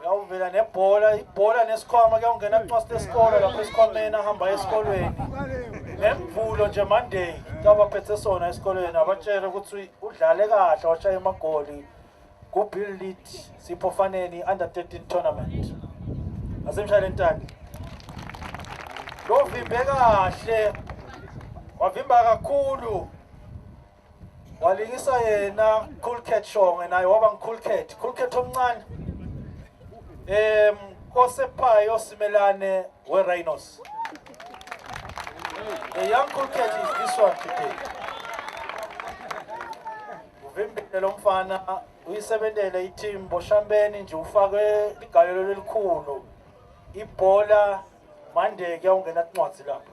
uyawuvela nebhola ibhola nesikhwama kuyawungena kuncwasta esikole lapho esikhwameni ahamba esikolweni nemvulo nje monday kabaphethe sona esikolweni abatshele ukuthi udlale kahle washaya emagoli kubill lead sipho faneni under 13 tournament asemshayele ntaki lovimbe kahle wavimba kakhulu walingisa yena cool cat shonge naye waba ngicool cat cool cat omncane em kosephayo simelane we rhinos the young cool cat is this one today uvimbele lo mfana uyisebenzele i-team boshambeni nje ufake igalelo elikhulu ibhola mandeke awungena incwadi lapho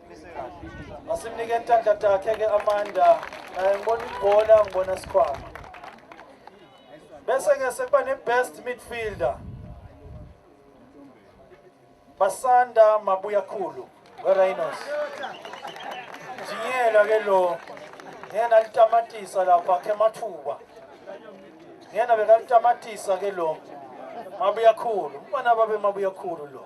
masimnike intandla takhe ke amanda naye ngibona ibhola ngibona sikhwama bese ke sekuba ne-best midfielder basanda mabuya khulu werhinos njingela ke lo ngena litamatisa lapha khe mathuba ngena bekalitamatisa ke lo mabuya khulu umfana babe mabuya khulu lo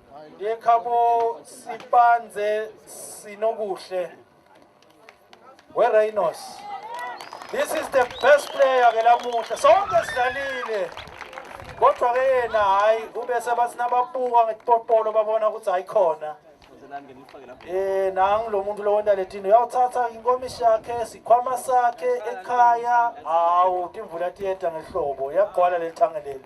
yekhabo sipanze sinokuhle wereynos this is the best player ke lamuhla sonke sidlalile kodwa ke yena hhayi ube sebathi nababuka ngetipopolo babona ukuthi ayikhona Eh nangu lo muntu lo wenda letini uyawuthatha inkomishi yakhe sikhwama sakhe ekhaya hawu timvula tiyeda ngehlobo yagcwala leli thange leli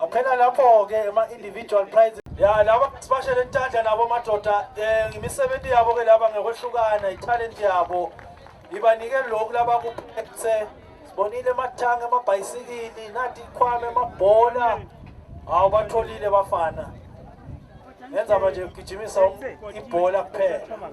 Aphela lapho ke ama individual prize ya laba sibashele intandla nabo madoda eh ngimisebenzi yabo ke laba ngekwehlukana italent yabo ibanike lokhu laba kuphethe sibonile amathanga amabhayisikili nathi ikhwame amabhola hawu batholile bafana ngenza manje kugijimisa ibhola kuphela